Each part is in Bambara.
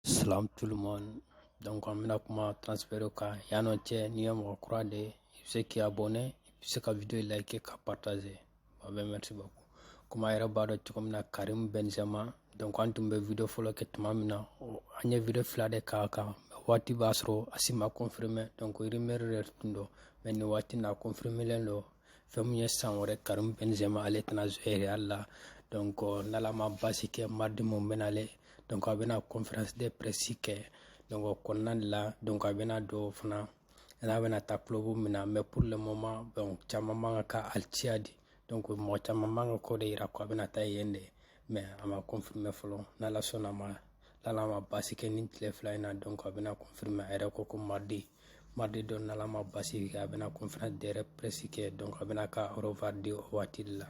Salam tout le monde. Donc an bɛna kuma transfert kan yan'o cɛ n'i ye mɔgɔ kura de ye i bɛ se k'i abonné i bɛ se ka video like ka partager a bɛɛ merci beaucoup komi a yɛrɛ b'a dɔn cogo min na Karim Benzema donc an tun bɛ video fɔlɔ kɛ tuma min na an ye video fila de k'a kan a waati b'a sɔrɔ a si ma confirmer donc rumeur de tun don mais nin waati in na a confirmer len don fɛn min ye san wɛrɛ Karim Benzema ale tɛna jouer Real la donc n'ala ma basi kɛ mardi min bɛ na ale donc a bɛna conférence de presse kɛ donc o kɔnɔna de la donc a bɛna dɔn fana n'a bɛna taa club min na mais pour le moment donc caman b'a kan ka Al-Ittihad donc mɔgɔ caman b'a kan k'o de yira ko a bɛna taa yen de mɛ a ma kɔnfirime fɔlɔ n'ala sɔnn'a ma n'ala ma basi kɛ nin tile fila in na donc a bɛna kɔnfirime a yɛrɛ ko ko mardi mardi don n'ala ma basi kɛ a bɛna conférence de presse kɛ donc a bɛn'a ka au revoir di o waati de la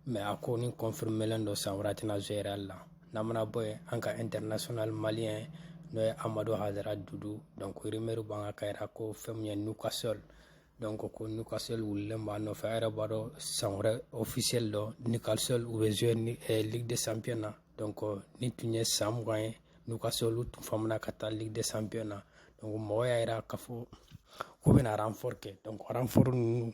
mɛ a kɔni kɔnfirimelen don san wɛrɛ tɛna jouer Real la n'an mana bɔ yen an ka international maliyɛn n'o ye amadu hayidara dudu donc rumeur b'a kan k'a yira ko fɛn min ye Newcastle donc ko Newcastle wulilen b'a nɔfɛ a yɛrɛ b'a dɔn san wɛrɛ ofisiyɛli don Newcastle u bɛ zuwe ni eh, ligue de champion na donc nin tun ye san mugan ye Newcastle olu tun famana ka taa ligue de champion na donc mɔgɔ y'a yira k'a fɔ k'u bɛna renfort kɛ donc renfort ninnu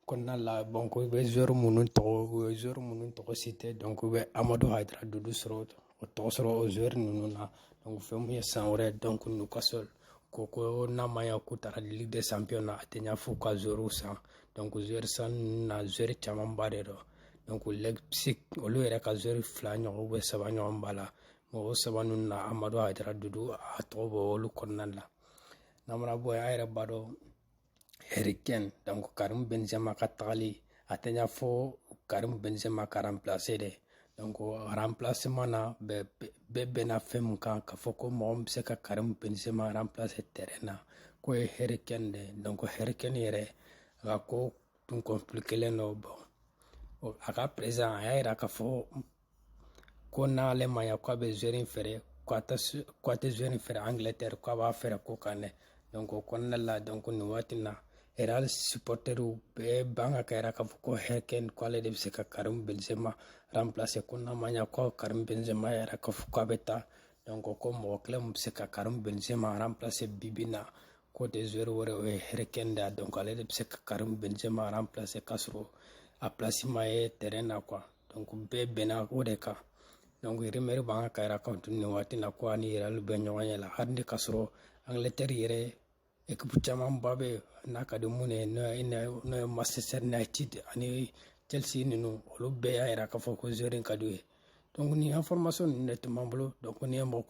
kɔnɔna la bon ko i bɛ zuwɛri minnu tɔgɔ u ye zuwɛri minnu tɔgɔ citer donc i bɛ amadu hayidara dudu sɔrɔ o tɔgɔ sɔrɔ o zuwɛri ninnu na fɛn min ye san wɛrɛ donc Newcastle ko ko n'a ma ya k'u taara ligue de champion na a tɛ ɲa fo ka zuwɛriw san zuwɛri san ninnu na zuwɛri camanba de don donc leipzig olu yɛrɛ ka zuwɛri fila ɲɔgɔn bɛ saba ɲɔgɔn b'a la mɔgɔ saba ninnu na amadu hayidara dudu a tɔgɔ b'olu kɔnɔna la n'an mana bɔ yen a yɛrɛ b'a dɔn Harry Kane donc Karim Benzema ka tagali a tɛ ɲa fo Karim Benzema ka remplacer dɛ donc remplacement na bɛɛ bɛɛ bɛnna fɛn min kan k'a fɔ ko mɔgɔ min bɛ se ka Karim Benzema remplacer terrain na k'o ye Harry Kane de ye donc Harry Kane yɛrɛ a ka ko tun compliquer len don bon a ka président a y'a jira k'a fɔ ko n'ale ma ya k'a bɛ joueur in feere k'a tɛ k'a tɛ joueur in feere angilɛtɛri k'a b'a feere kɔkan de donc o kɔnɔna la donc nin waati na Real supporteriw bɛɛ b'a kan k'a yira k'a fɔ ko Harry Kane ko ale de bɛ se ka Karim Benzema remplacer ko n'a ma ɲa ko Karim Benzema yɛrɛ k'a fɔ k'a bɛ taa donc ko mɔgɔ kelen min bɛ se ka Karim Benzema remplacer bi bi in na ko de joueur wɛrɛ o ye Harry Kane de ye donc ale de bɛ se ka Karim Benzema remplacer k'a sɔrɔ a place ma ye terrain na quoi donc bɛɛ bɛnna o de kan donc rumeur b'a kan k'a yira kan tun nin waati na ko a ni Real bɛ ɲɔgɔn ɲɛ la hali n'i k'a sɔrɔ angletɛri yɛrɛ ekipu camanba bɛ yen a ka di minnu ye n'o ye n'o ye manchester united ani chelsea ninnu olu bɛɛ y'a yira k'a fɔ ko joueur in ka d'u ye donc nin information ninnu de tun b'an bolo donc n'i ye mɔgɔ